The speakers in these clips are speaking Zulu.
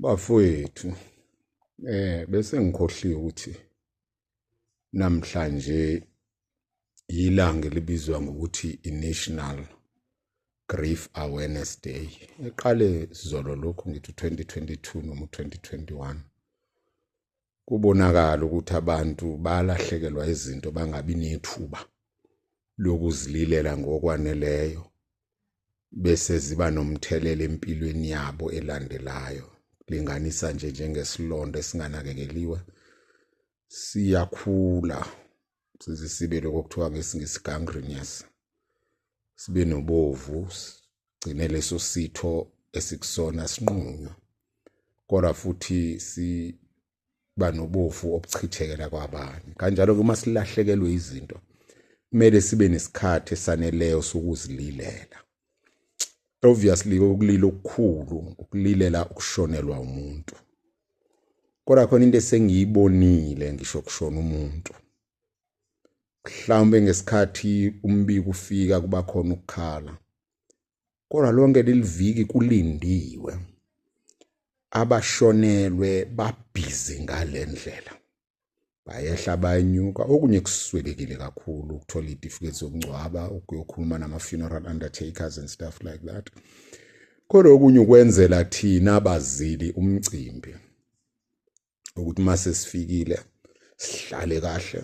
bafowethu eh bese ngikhohliwe ukuthi namhlanje yilanga elibizwa ngokuthi i-National Grief Awareness Day eqale sizolo lokhu ngithi 2022 noma 2021 kubonakala ukuthi abantu balahlekelwa izinto bangabi nethuba lokuzililela ngokwaneleyo bese ziba nomthelela empilweni yabo elandelayo linganisa nje njengesilonda esinganakekeliwe siyakhula size sibe lokho kuthiwa ngesingisi gangrenous sibe nobovu sigcine leso sitho esikusona sinqunywa kodwa futhi si banobofu obuchithekela kwabanye kanjalo ke uma silahlekelwe izinto kumele sibe nesikhathi esaneleyo sokuzililela obviously ukulila okukhulu ukulilela ukushonelwa umuntu kodwa khona into esengiyibonile ngisho kushona umuntu mhlawumbe ngesikhathi umbiko ufika kuba khona ukukhala kodwa lonke leliviki kulindiwe abashonelwe babhizi ngalendlela bayehla bayanyuka okunye kuswelekile kakhulu ukuthola itifiketi zokungcwaba ukuyokhuluma nama-funeral undertakers and stuff like that kodwa okunye ukwenzela thina abazili umcimbi ukuthi uma sesifikile sihlale kahle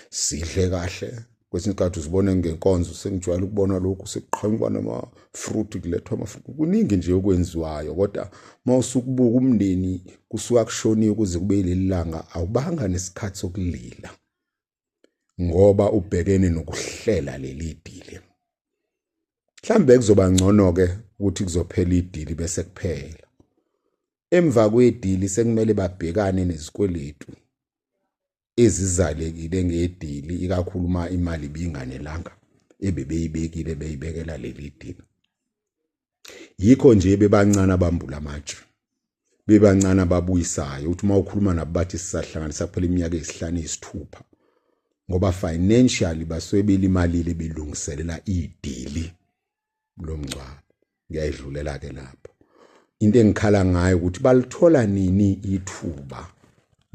sidle kahle kwesinye isikhathi uzibone ngenkonzo sengijwayele ukubona lokhu sekuqhanyukwa nama-fruit kulethwa ama-fruit kuningi nje okwenziwayo kodwa uma usukubuka umndeni kusuka kushoniwe kuze kube yileli langa awubanga nesikhathi sokulila ngoba ubhekene nokuhlela leli dili mhlambe kuzoba ngcono ke ukuthi kuzophela idili bese kuphela emva kwedili sekumele babhekane nezikweletu ezizalekile ngedili ikakhulu uma imali ibinganelanga ebebeyibekile beyibekela leli dili yikho nje bebancane abambula amatshe bebancane ababuyisayo uthi uma ukhuluma nabo bathi sisahlanganisa kuphela iminyaka eyisihlanu eyisithupha ngoba financially basuke belimalile belungiselela idili lomngcwabo ngiyayidlulela ke lapho into engikhala ngayo ukuthi balithola nini ithuba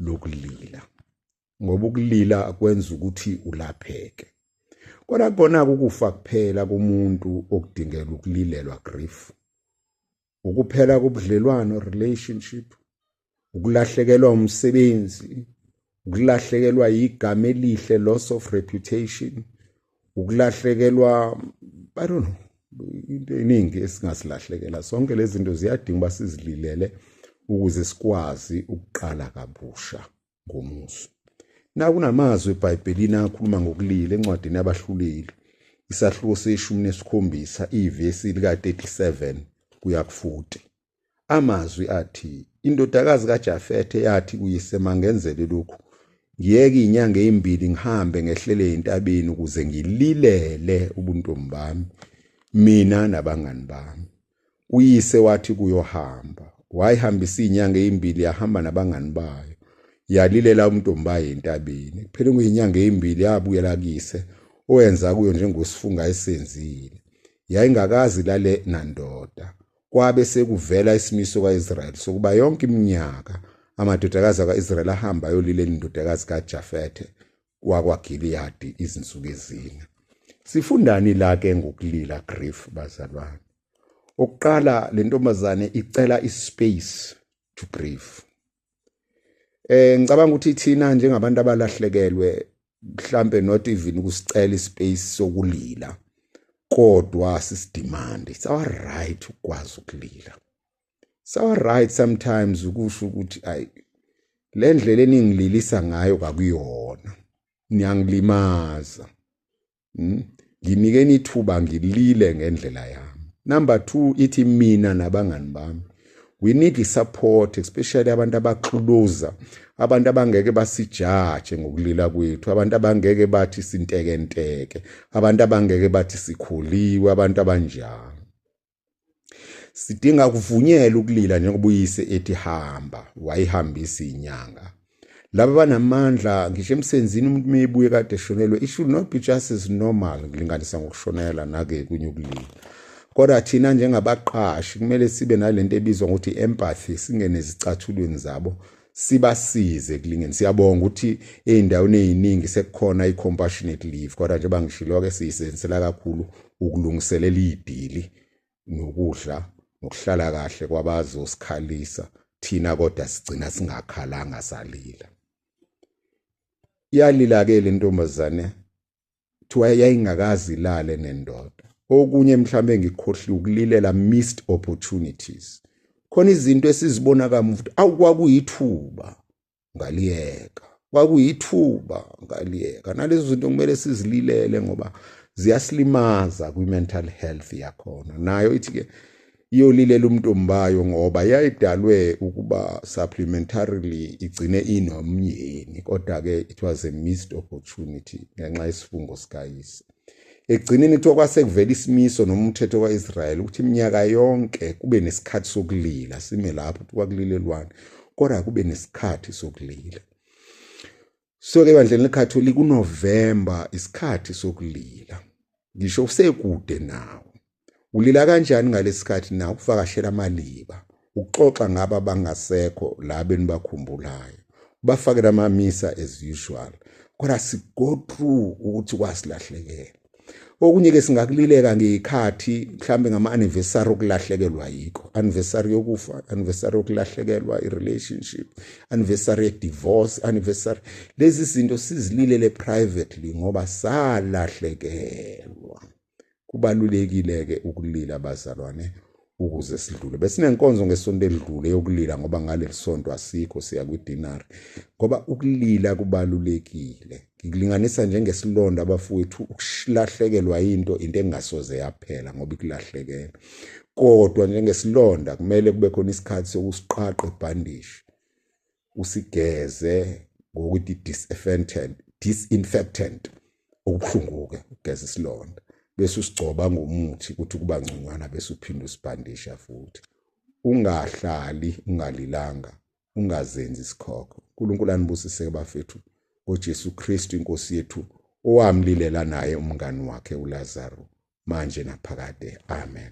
lokulila ngoba ukulila kwenza ukuthi ulapheke kodwa kona ukufa kuphela kumuntu okudingela ukulilelwa grief ukuphela kobudlelwano relationship ukulahlekelwa umsebenzi ukulahlekelwa igama elihle loss of reputation ukulahlekelwa i don't know into eningi esingasilahlekela sonke lezi zinto ziyadinga uba sizililele ukuze sikwazi ukuqala kabusha ngomuso. Nakunamazwi eBhayibhelini akhuluma ngokulila encwadini yabahluleli isahluko seshumi nesikhombisa ivesi lika-37 kuya ku-40. Amazwi athi, Indodakazi kaJafethe yathi kuyise mangenzele lokhu, ngiyeke inyanga ezimbili ngihambe ngehlele entabeni ukuze ngililele ubuntombi bami mina nabangani bami uyise wathi kuyohamba wayihambisa izinyanga ezimbili yahamba nabangani bayo yalilela umntombi bayo entabeni kuphele ngezinyanga ezimbili yabuyela kise owenza kuyo njengosifunga esenzile yayingakazi lale nandoda kwabe sekuvela isimiso kaIsrael sokuba yonke iminyaka amadodakazi akaIsrael ahamba ayolile indodakazi kaJafethe wakwaGiliyadi izinsuku ezine. Sifundani la ke ngokulila grief bazalwane? Okuqala le ntombazane icela ispace to grieve. Eh ngicabanga ukuthi thina njengabantu abalahlekelwe mhlambe not even ukusicela ispace sokulila kodwa sisidemand it's our right ukwazi ukulila sawa right sometimes ukusho ukuthi ay le ndlela eningililisa ngayo kakuyona niyangilimaza hmm? nginikeni ithuba ngilile ngendlela yami number 2 ithi mina nabangani bami we need the support especially abantu abaxuluza abantu abangeke basijaje ngokulila kwethu abantu abangeke bathi sintekenteke abantu abangeke bathi sikhuliwe abantu abanjalo Sidinga kuvunyelwa ukulila njengoba uyise ethi hamba, wayihambisa inyanga. Laba banamandla ngisho emsenzini umuntu meyibuye kade eshonelwe it should not be just as normal ngilinganisa ngokushonela nake kunye ukulila. Kodwa thina njengabaqashi kumele sibe nalento ebizwa ngokuthi empathy singene ezicathulweni zabo sibasize kulingeni siyabonga ukuthi ezindaweni eziningi sekukhona icompassionate leave kodwa nje bangishilo ke siyisenzela kakhulu ukulungiselela idili nokudla nokuhlala kahle kwabazosikhalisa thina kodwa sigcina singakhalanga salila iyalila ke lentombazane kuthiwa yayingakazi ilale nendoda okunye mhlawumbe ngikhohliwe ukulilela missed opportunities khona izinto esizibona kamuva ukuthi awu kwakuyithuba ngaliyeka kwakuyithuba ngaliyeka nalezo zinto kumele sizililele ngoba ziyasilimaza kwi-mental health yakhona nayo ithi-ke iyolilela umntombayo ngoba yayidalwe ukuba supplementarily igcine inomyeni kodwa ke it was a missed opportunity ngenxa yesifungo sikayise ekugcineni kuthiwa kwasekuvela isimiso noma umthetho ka-israyeli ukuthi iminyaka yonke kube nesikhathi sokulila sime lapho ukuthi kwakulilelwane kodwa kube nesikhathi sokulila Soke ebandleni leCatholic uNovember isikhathi sokulila. Ngisho usekude nawo. Ulila kanjani ngalesikhathi na ukuvakashela amaliba, ukuxoxa ngaba bangasekho la benibakhumbulayo. Ubafakela amamisa as usual. Kodwa sigo through ukuthi kwasilahlekela. okunye ke singakulileka ngeyikhathi mhlambe ngama anniversary okulahlekelwa yikho anniversary yokufa anniversary yokulahlekelwa i relationship anniversary ye divorce anniversary lezi zinto sizililele privately ngoba salahlekelwa kubalulekile ke ukulila bazalwane ukuze sidlule besinenkonzo ngesonto elidlule yokulila ngoba ngaleli sonto asikho siya kwidinari ngoba ukulila kubalulekile ngikulinganisa njengesilonda abafowethu ukulahlekelwa into into engasoze yaphela ngoba ikulahlekela kodwa njengesilonda kumele kube khona isikhathi sokusiqhaqha ibhandishi usigeze ngokuthi disinfectant disinfectant okubuhlungu-ke ukugeza isilonda bese usigcoba ngomuthi ukuthi kuba ngconywana bese uphinde usibhandisha futhi ungahlali ungalilanga ungazenzi isikhokho unkulunkulu anibusise bafethu ngojesu kristu inkosi yethu owamlilela naye umngani wakhe ulazaro manje naphakade amen